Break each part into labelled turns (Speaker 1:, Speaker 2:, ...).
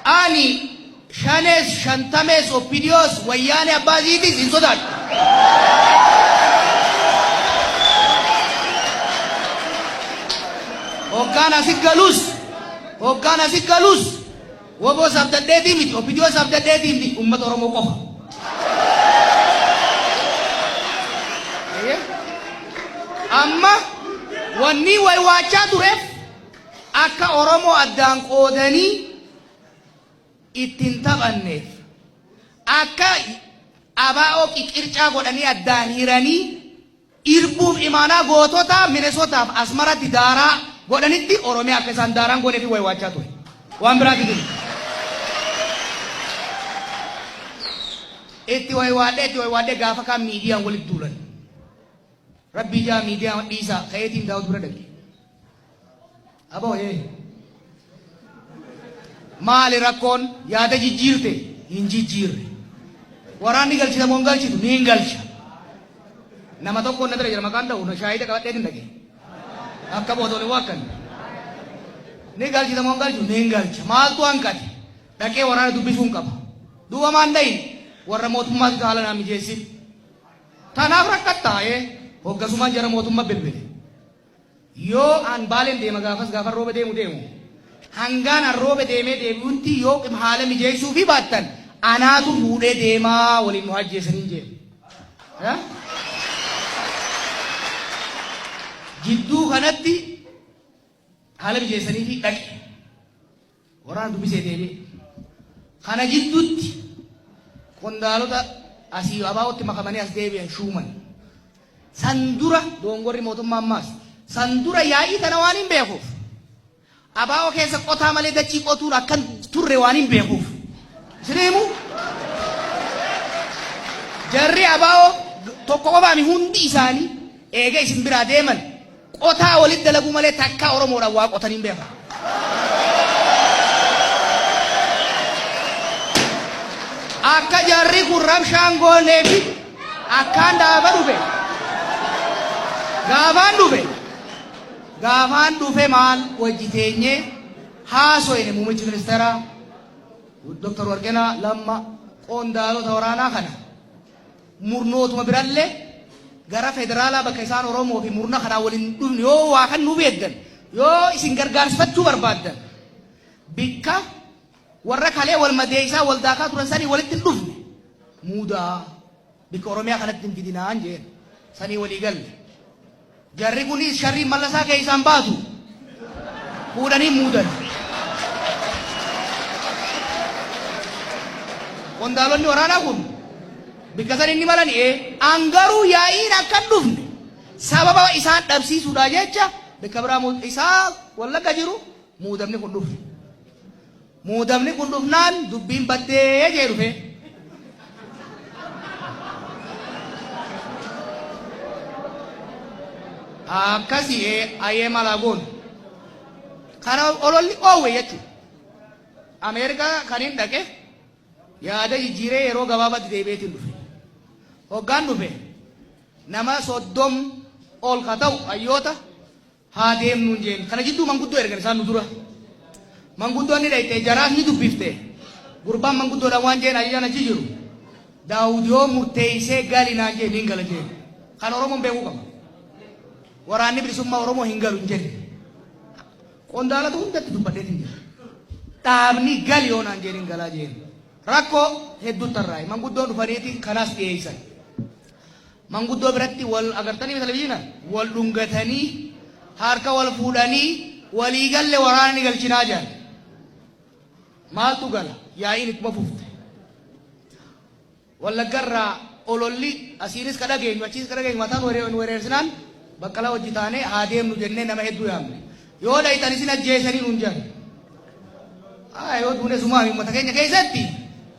Speaker 1: Ani shanees shantamees oppidiyoos wayyaanee abbaa ziitis hin sodaadhu. Hoggaan asi galus hoggaan asi galus woboos abdadheetii miti oppidiyoos abdadheetii miti uummata Oromoo qofa. Amma wannii way waachaa tureef Akka Oromoo addaan qoodanii itti hin taphanneef, akka ABO qiqircaa godhanii addaan hiranii irbuuf imaanaa gootota Minesotaaf Asmaratti daaraa godhanitti Oromiyaa akka isaan daaraan gooneefi waywaachaa ture. Waan biraatiif hin. Itti waywaadhee itti waywaadhee gaafa kaan miidiyaan walitti duulan. Rabbii jaa miidiyaa dhiisaa ka'eetiin daawwatu bira dhaqe. Aboo ee. Maali rakkoon yaada jijjiirte hin jijjiirre. Waraanni galchita moo hin galchitu ni hin galcha. Nama tokko na bira jira maqaan ta'u na shaayida qabadhee hin dhage. Akka booda waliin waakkan. Ni galchita moo hin galchu ni hin galcha. Maaltu hanqate dhaqee waraana dubbisuun qaba. Duuba maan dhayin warra mootummaatu haala naa mijeessin. Tanaaf rakkattaa'ee hoggasumaan jara mootummaa bilbile. Yoo an Baaleen deema gaafas gaafan Roobe deemu deemu hangaan an Roobe deemee deebi'utti yoo qim haala mijeessuufii baattan anaatu fuudhee deemaa waliin nu haajjeesaniin jeen. Jidduu kanatti haala mijeessaniifii dhaqe. Waraana dubbisee deebi'e. Kana jidduutti qondaalota asii ABOtti makamanii as deebi'an shuuman. San dura doongorri mootummaa ammaas san dura yaa'ii tana waan hin beekuuf ABO keessa qotaa malee dachii qotuun akkan turre waan hin beekuuf isin himu jarri ABO tokko qofaami hundi isaanii eega isin biraa deeman Qotaa walitti dalaguu malee takkaa Oromoodhaan waa qotanii hin beekan. Akka jarri kun rabshaan goonee fi akkaan dhaaba dhufe. Gaafaan dhufe. Gaafaan dhufe maal wajji teenyee haasoyne muummichi ministeeraa Dr. Warqinaa Lamma qondaalota waraanaa kana. murnootuma birallee gara federaalaa bakka isaan Oromoo fi murna kanaa waliin hin dhufne yoo waa kan nu beektan yoo isin gargaarsifachuu barbaaddan bikka warra kalee wal madeessaa wal daakaa turan sanii walitti hin dhufne muudaa bikka Oromiyaa kanatti hin fidinaan jeen sanii walii galle. Jarri kuniis sharrii mallasaa keessaan baatu fuudhanii muudan. Qondaalonni waraanaa kun bikka san inni malani ee an garuu yaa'iin akka hin dhufne sababa isaan dhabsiisuudhaa jecha bikka biraa isaa wallagga jiru muudamni kun dhufe. Muudamni kun dhufnaan dubbiin baddee jee dhufee. Akkasi ayee malaa goonu. Kana ololli oowwe jechu. Ameerikaa kan hin dhaqe yaada jijjiiree yeroo gabaabatti deebi'eetiin dhufe. Hoggaan dhufe nama soddom ol ka ta'u hayyoota haa deemnuun jeen. Kana jidduu manguddoo ergan isaan nu dura. Manguddoon ni dhayxee jaraas ni dubbifte. Gurbaan manguddoodhaan waan jeen ajajaan achi jiru. Daawud yoo murteeysee gali naan jee niin gala jeen. Kana Oromoon beekuu qaba. Waraanni bilisummaa Oromoo hin galu hin jenne. Qondaalota hundatti dubbadheetiin jira. Dhaabni gali yoo naan jeen hin galaa jeen. Rakkoo hedduu tarraa'e. Manguddoon dhufaniiti kanaas dhiyeeysan. Manguddoo biratti wal agartaniima televijiinan? Wal dhungatanii, harka wal fuudhanii walii galle waraana ni galchinaa jedhan. Maaltu gala? Yaa'iin ittuma fufte. Wallagga irraa ololli asiinis ka dhageenyu achiis ka dhageenyu mataa nu wereersinaan Baqqalaa wajji taanee haa deemnu jennee nama hedduu yaamne. Yoo dhayxan isin ajjeesanii nuun jedhan. Haa yoo duune sumaa uummata keenya keessatti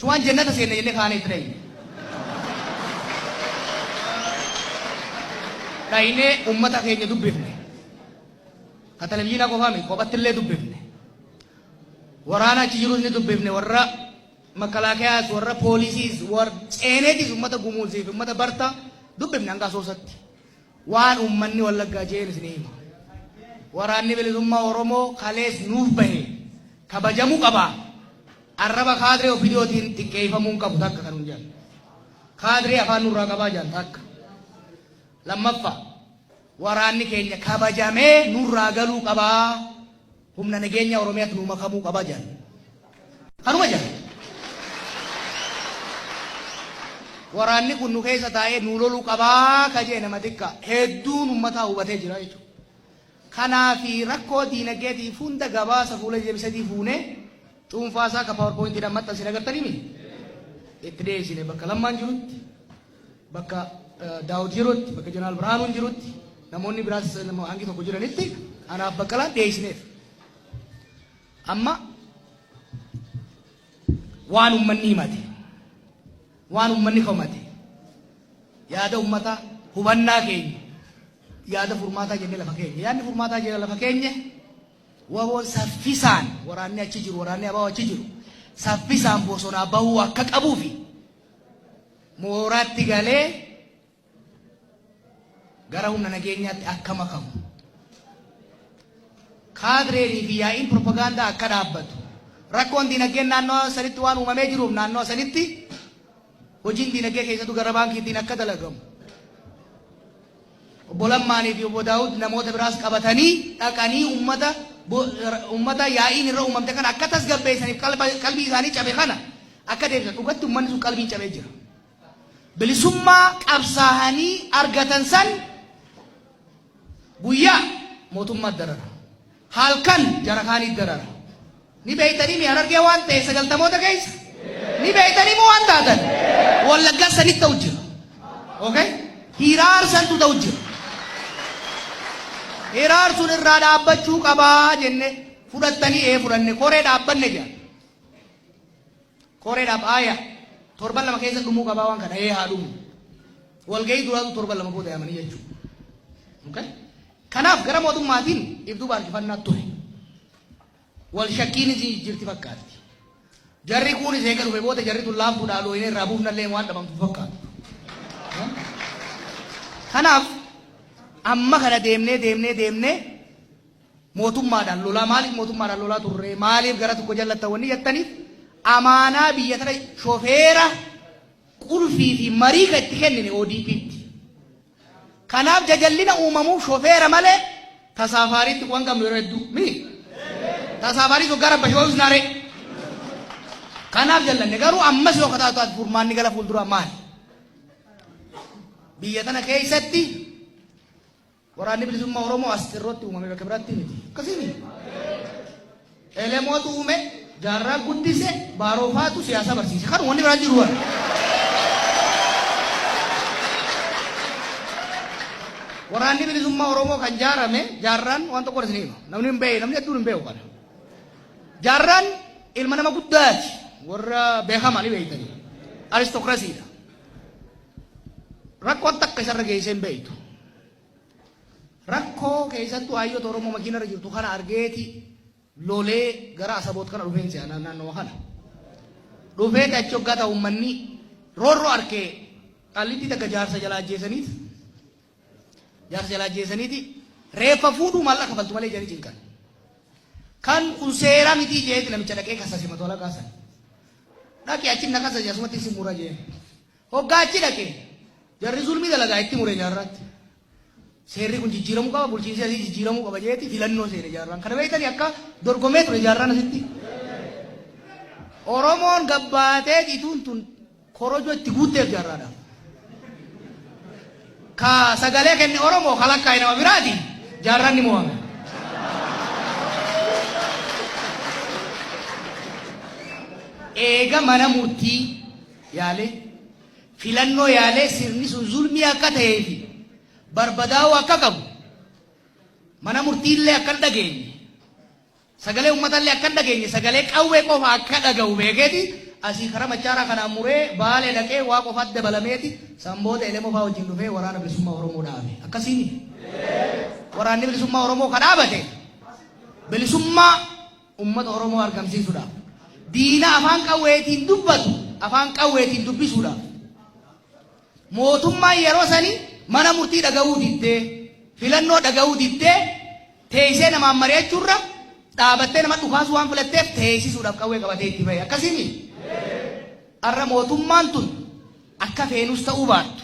Speaker 1: cumaan jennata seenna jennee kaanee itti dhayne. Dhaynee uummata keenya dubbifne. Ka televizyiina qofaa miti kophatti illee dubbifne. Waraana achi jirus ni dubbifne warra makalaakeyaas warra poolisiis warra ceeneetis uummata gumuusiif uummata barta dubbifne hanga asoosatti. Waan uummanni Wallaggaa je'een isinii hima. Waraanni Bilisummaa Oromoo kalees nuuf bahe kabajamu qaba. Arraba kaadree OPDOtiin xiqqeeyfamuu hin qabu takka kan nuun je'an. Kaadree afaan nurraa qabaa je'an takka. Lammaffaa, waraanni keenya kabajamee nurraa galuu qaba. Humna Nageenyaa Oromiyaatti nuu makamuu qaba jedhan. Kanuma jedhan. Waraanni kun nu keessa taa'ee nuu loluu qaba ka jedhe nama xiqqaa. Hedduun ummataa hubatee jira jechuudha. Kanaafi rakkoo diinagdeetiif hunda gabaasa fuula 23 fuunee cuunfaasaa ka PowerPointiidhaan maxxansine agartanii miti? Itti dhiyeessine bakka lammaan jirutti. bakka Daawud jirutti, bakka Jeneraal Birhaanuun jirutti, namoonni biraas hangi tokko jiranitti anaaf Baqqalaan dhiyeessineef. Amma waan ummanni himate, waan ummanni komate, yaada ummataa hubannaa keenya, yaada furmaataa jennee lafa keenya. Yaadni furmaataa jennee lafa keenya waboon saffisaan waraanni achi jiru, waraanni abaa'u achi jiru, saffisaan bosonaa bahuu akka qabuu fi mooraatti galee gara humna nageenyaatti akka makamu kaadreenii fi yaa'iin propagaandaa akka dhaabbatu rakkoon diinagdeen naannoo sanitti waan uumamee jiruuf naannoo sanitti hojiin diinagdee keessattuu gara baankiitiin akka dalagamu Obbo Lammaan fi Obbo Daawud namoota biraas qabatanii dhaqanii uummata uummata yaa'iin irra uumamte kana akka tasgabbeessaniif qalbii isaanii cabe kana akka deebisan dhugatti uummanni sun qalbiin cabee jira. Bilisummaa qabsaahanii argatan san guyyaa mootummaa darara. Halkan jara kaanii darara. Ni beeytanii mi Harargee waan ta'e sagaltamoota keessa? Ni beeytanii moo waan taatan? Wallaggas sanitti ta'u jira. Okay? Hiraar santu ta'u jira. Hiraar sun irraa dhaabbachuu qabaa jenne fudhattanii ee fudhanne koree dhaabbanne jira. Koreedhaaf aaya torban lama keessa dhumuu qabaa waan kana ee haa dhumu. Walgahii duraatu torban lama booda yaamanii jechuudha. Okay? Kanaaf gara mootummaatiin ibduu baarkifannaa ture. Wal shakkiin isii jirti fakkaatti. Jarri kuunis eega dhufe booda jarri tun laaftuudhaa looyinee irraa buufnallee waan dhabamtu fakkaatu. Kanaaf amma kana deemnee deemnee deemnee Mootummaadhaan lolaa maaliif mootummaadhaan lolaa turree maaliif gara tokko jallattan wanni jattaniif amaanaa biyya tana shofeera qulfii fi marii ka itti kennine ODPtti. Kanaaf jajallina uumamuuf shofeera malee tasaafaariitti quban qabnu yeroo hedduu mi tasaafaarii so gara bashoo ibsnaa ree. Kanaaf jallanne garuu ammas yoo kataa taatu furmaanni gala fuulduraa maali? Biyya tana keessatti Waraanni Bilisummaa Oromoo as Cirrootti uumame bakka biraatti miti. Akkasii miti. Qeelemootu uume, jaarraa guddise, baaroofaatu siyaasa barsiise. Kan wanni biraa jiru waan. Waraanni Bilisummaa Oromoo kan jaarame jaarraan waan tokko isin hima. Namni hin beeku, namni hedduun hin beeku kana. Jaarraan ilma nama guddaati. Warra beekamaa ni beektanii. Aristokrasiidha. Rakkoon takka isarra geessee hin beektu. Rakkoo keessattuu hayyoota Oromoo makiinarra jirtu kana argeeti lolee gara asaboot kana dhufeen si'a naannoo kana. Dhufeeti achi hoggaa ta'u uummanni roorroo arkee xallittii takka jaarsa jalaa ajjeesaniiti. Jaarsa jalaa ajjeesaniiti reeffa fuudhuu maallaqa kafaltu malee jedhanii cinqan. Kan kun seera mitii jeeti namicha dhaqee kasa simatu alaqaa sana. Dhaqee achi na kasa asumatti si mura jee. Hoggaa achi dhaqe jarri zulmii dalagaa itti mure jaarraatti. Seerri kun jijjiiramuu qaba, bulchiinsi asii jijjiiramuu qaba jeeti filannoo seene jaarraan. Kana beektanii akka dorgomee ture jaarraan asitti. Oromoon gabbaatee dhiituun tun korojoo itti guutteef jaarraadha. Ka sagalee kenne Oromoo ka lakkaa'e nama biraati jaarraan ni mo'ame. Eega mana murtii yaale, filannoo yaale sirni sun zulmii akka ta'ee fi barbadaa'uu akka qabu mana murtiillee akka hin dhageenye sagalee uummatallee akka hin dhageenye sagalee qawwee qofa akka dhaga'u beekeeti asii karaa machaaraa kanaan muree baalee dhaqee waa qofa adda balameeti san booda elemoo fa'aa wajjin dhufee waraana bilisummaa Oromoo dhaabe akkasiin waraanni bilisummaa Oromoo kan dhaabate bilisummaa ummata Oromoo argamsiisuudhaaf, diina afaan qawweetiin dubbatu afaan qawweetiin dubbisuudhaaf, mootummaan yeroo sanii mana murtii dhaga'uu diddee, filannoo dhaga'uu diddee, teessee namaan mari'achuurra dhaabattee nama dhukaasuu waan filatteef teessisuudhaaf qawwee qabatee itti ba'e. Akkasiimi? Har'a mootummaan tun akka feenus ta'uu baattu,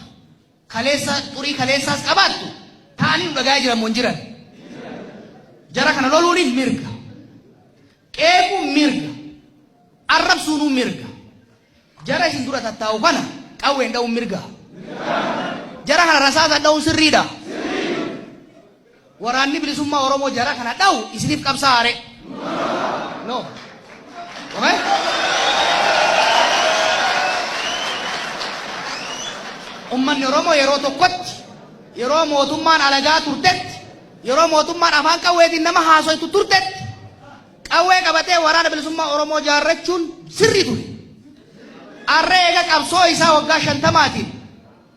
Speaker 1: kaleessaa xurii kaleessaas qabaattu taa'anii nu dhaga'aa jiran moo hin jiran? Jara kana loluunis mirga. Qeequun mirga. Arrabsuunuu mirga. Jara isin dura tattaa'u kana qawween dha'uun mirga. Jara kana rasaasaan dha'uun sirriidha. Waraanni bilisummaa Oromoo jara kana dhawu isiniif qabsaa'a ree? No. Okay? Ummanni Oromoo yeroo tokkotti, yeroo mootummaan alagaa turtetti, yeroo mootummaan afaan qawweetiin nama haasoytu turtetti, qawwee qabatee waraana bilisummaa Oromoo jaarrachuun sirrii ture. Arree eega qabsoo isaa waggaa shantamaatiin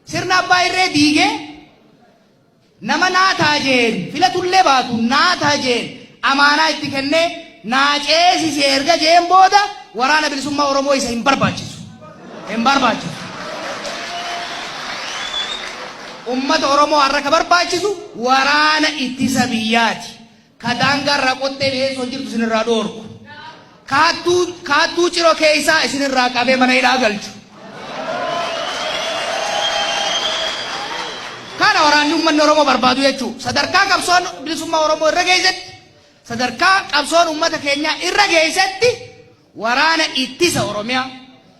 Speaker 1: sirna abbaa irree diigee Nama naa ta'a jeen filatullee baatu naa ta'a jeen amaanaa itti kennee naa ceesisi erga jeen booda Waraana Bilisummaa Oromoo isa hin barbaachisu. Hin barbaachisu. Ummata Oromoo har'a ka barbaachisu waraana ittisa biyyaati. ka daangaa irraa qotteen eessoo jirtu isin irraa dhoorku, ka hattuu, ka hattuu ciro keeysaa isin irraa qabee mana hidhaa galchu. Kana waraanni uummanni Oromoo barbaadu jechuu sadarkaa qabsoon bilisummaa Oromoo irra geessetti sadarkaa qabsoon uummata keenyaa irra geessetti Waraana Ittisa Oromiyaa,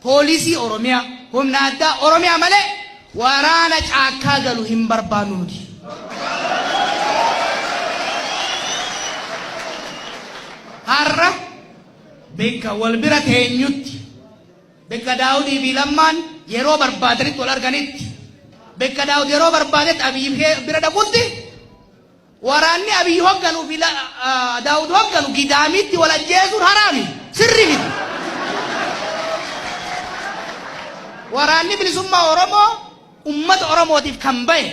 Speaker 1: Poolisii Oromiyaa, Humna Addaa Oromiyaa malee waraana caakkaa galu hin barbaannu nuti. Har'a bakka wal bira teenyutti, bakka Daawudii fi Lammaan yeroo barbaadanitti wal arganitti, bakka Daawud yeroo barbaadetti Abiy bira dhaqutti Waraanni Abiy hogganuu fi Daawud hogganu Gidaamiitti wal ajjeesuun haraami? Sirrii miti. Waraanni Bilisummaa Oromoo ummata Oromootiif kan bahe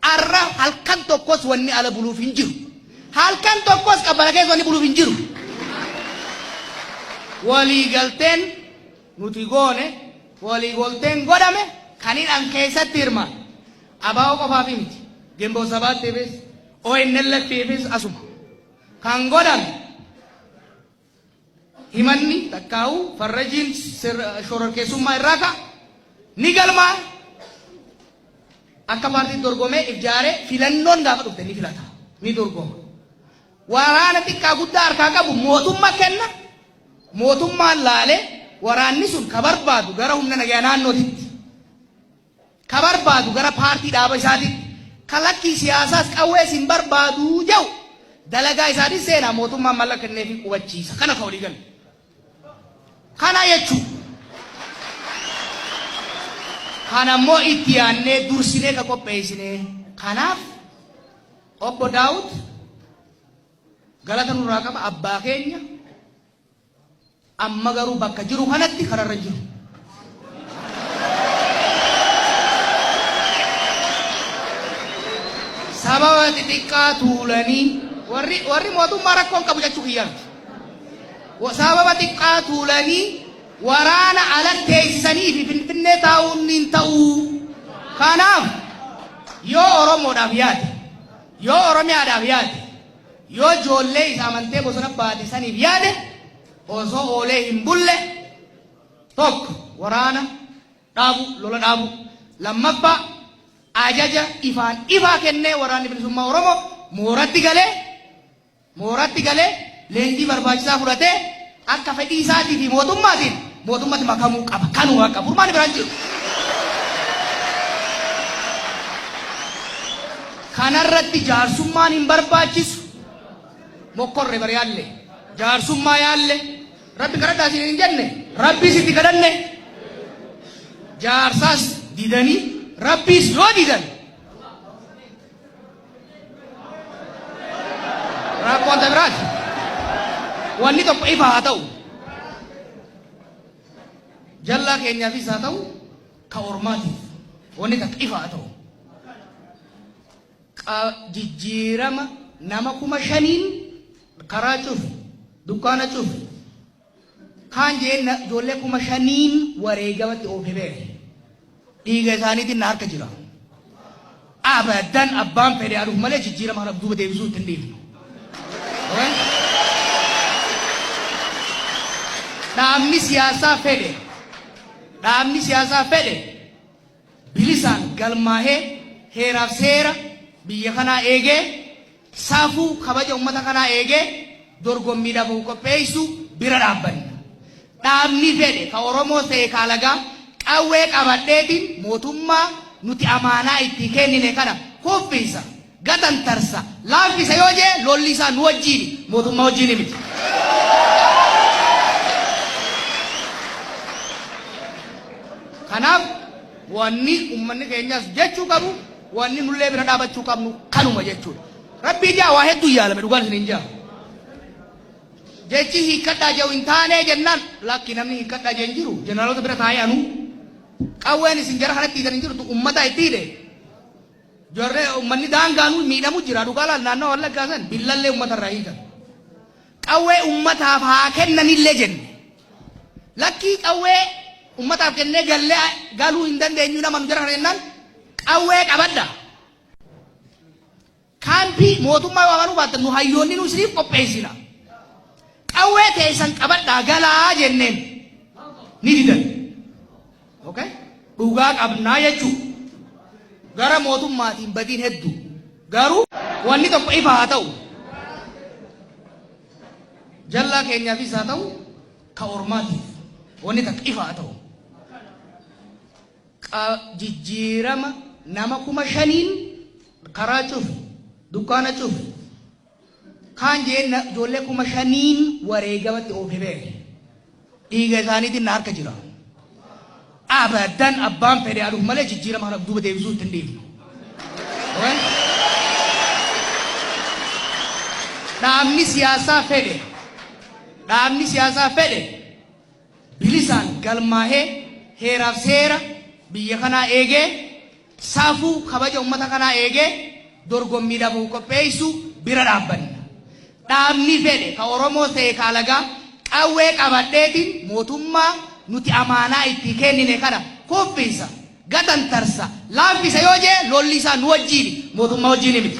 Speaker 1: arra halkan tokkos wanni ala buluuf hin jiru. Halkan tokkos qabbana keessa wanni buluuf hin jiru. Waliigalteen nuti goone waliigalteen godhame kan hidhan keessatti hirmaata. Abo qofaafii miti, Ginbot Sabaattiifis, ONLF'fis asuma. Kan godhame himanni takkaahuu farrajiin shororkeessummaa irraa ka'a, ni galmaa'a, akka paartiitti dorgomee if jaaree filannoon gaafa dhufte ni filata, ni dorgoma. Waraana xiqqaa guddaa harkaa qabu mootumma kenna, mootummaan laalee waraanni sun ka barbaadu gara humna nagaya naannootitti. Ka barbaadu gara paartii dhaaba isaatitti, ka lakkii siyaasaas qawwees hin barbaadu jedhu dalagaa isaanii seenaa mootummaan mallaqa kenneefiin qubachiisa. Kana ka walii galle. Kana jechuun kana immoo itti yaannee dursinee ka qopheessine. Kanaaf obbo Daawud galata nurraa qaba abbaa keenya. Amma garuu bakka jiru kanatti kararra jiru. Sababa xixiqqaa tuulanii warri warri mootummaa rakkoon qabu jechuu kiyyaa miti. Wa- Sababa xiqqaa tuulanii waraana alatti teessisanii fi finfinnee taa'uun ni hin ta'u. Kanaaf yoo Oromoodhaaf yaade, yoo Oromiyaadhaaf yaade, Yoo ijoollee isa amantee bosona baate saniif yaade osoo oolee hin bulle tokko waraana dhaabu lola dhaabu lammaffaa ajaja ifaan ifaa kennee waraanni bilisummaa Oromoo mooratti galee mooratti galee leenjii barbaachisaa fudhatee Akka fedhii isaatii fi mootummaatiin mootummatti makamuu qaba. Kanuma akka furmaanni biraan jiru. Kanarratti jaarsummaan hin barbaachisu. Mokkorre bar yaalle. Jaarsummaa yaalle. Rabbi kadhadhaa isin hin jenne. Rabbiis itti kadhanne. Jaarsaas didanii rabbiis yoo didan Rakkoo adda biraati. Wanni tokko ifa haa ta'u. Jallaa keenyaafis haa ta'u ka ormaatiif wanni takka ifa haa ta'u. Qa- Jijjiirama nama kuma shaniin karaa cufi dukkaana cufi Kaan jeenna ijoollee kuma shaniin wareegamatti oofne beeke. Dhiiga isaaniitiin na harka jira. Abadan abbaan fedhe haa dhufu malee jijjiirama kana duuba deebisuu itti hin dhiifnu. Okay? Dhaabni siyaasaa fedhe dhaabni siyaasaa fedhe bilisaan galmaahee heeraaf seera biyya kanaa eegee saafuu kabaja ummata kanaa eegee dorgommiidhaaf of qopheessu bira dhaabbanna. Dhaabni fedhe ka Oromoos ta'e ka alagaa qawwee qabadheetiin mootummaa nuti amaanaa itti kennine kana kuffisa. gatantarsa, laaffisa yoo jee lolli isaa nu wajjiini, mootummaa wajjiini miti. Kanaaf wanni ummanni keenyas jechuu qabu, wanni nullee bira dhaabachuu qabnu kanuma jechuudha. Rabbii ijaa waa hedduu yaalame dhugaan isin hin jaa. Jechi hiikkadhaa jedhu hin taanee jennaan lakki namni hiikkadhaa jedhu hin jiru. Jeneraalota bira taa'ee anuu qawween isin jara kanatti hiikan hin jirtu ummataa itti hidhe. Jarri ummanni daangaanuu miidhamu jira dhugaa laal naannoo Wallaggaa san billallee ummata irraa hiikan. Qawwee ummataaf haa kennanillee jenne. Lakkii qawwee ummataaf kennee gallee galuu hin dandeenyu nama nu jara kana jennaan qawwee qabadha. Kaampii mootummaa waamanuu baattan nu hayyoonni nu isiniif qopheessina. Qawwee teessan qabadhaa galaa jenneen ni didan. Okay? Dhugaa qabnaa jechuu gara mootummaatiin badiin hedduu garuu wanni tokko ifa haa ta'u jallaa keenyaafis haa ta'u ka ormaatiif wanni takka ifa haa ta'u Qa- jijjiirama nama kuma shaniin karaa cufi dukkaana cufi Kaan jeenna ijoollee kuma shaniin wareegamatti oofne beeke. Dhiiga isaaniitiin na harka jira. Abadan abbaan fedhe haa dhufu malee jijjiirama kana duuba deebisuu itti hin dhiifnu. Okay? Dhaabni siyaasaa fedhe dhaabni siyaasaa fedhe bilisaan galmaahee heeraaf seera biyya kanaa eegee Safuu kabaja ummata kanaa eegee dorgommii dhabuuf qopheessu bira dhaabbanna. Dhaabni fedhe ka Oromoos ta'e ka alagaa qawwee qabadheetiin mootummaa nuti amaanaa itti kennine kana kuffinsa, gatantarsa, laaffisa yoo je'e lolli isaa nu wajjiini, mootummaa wajjiini miti.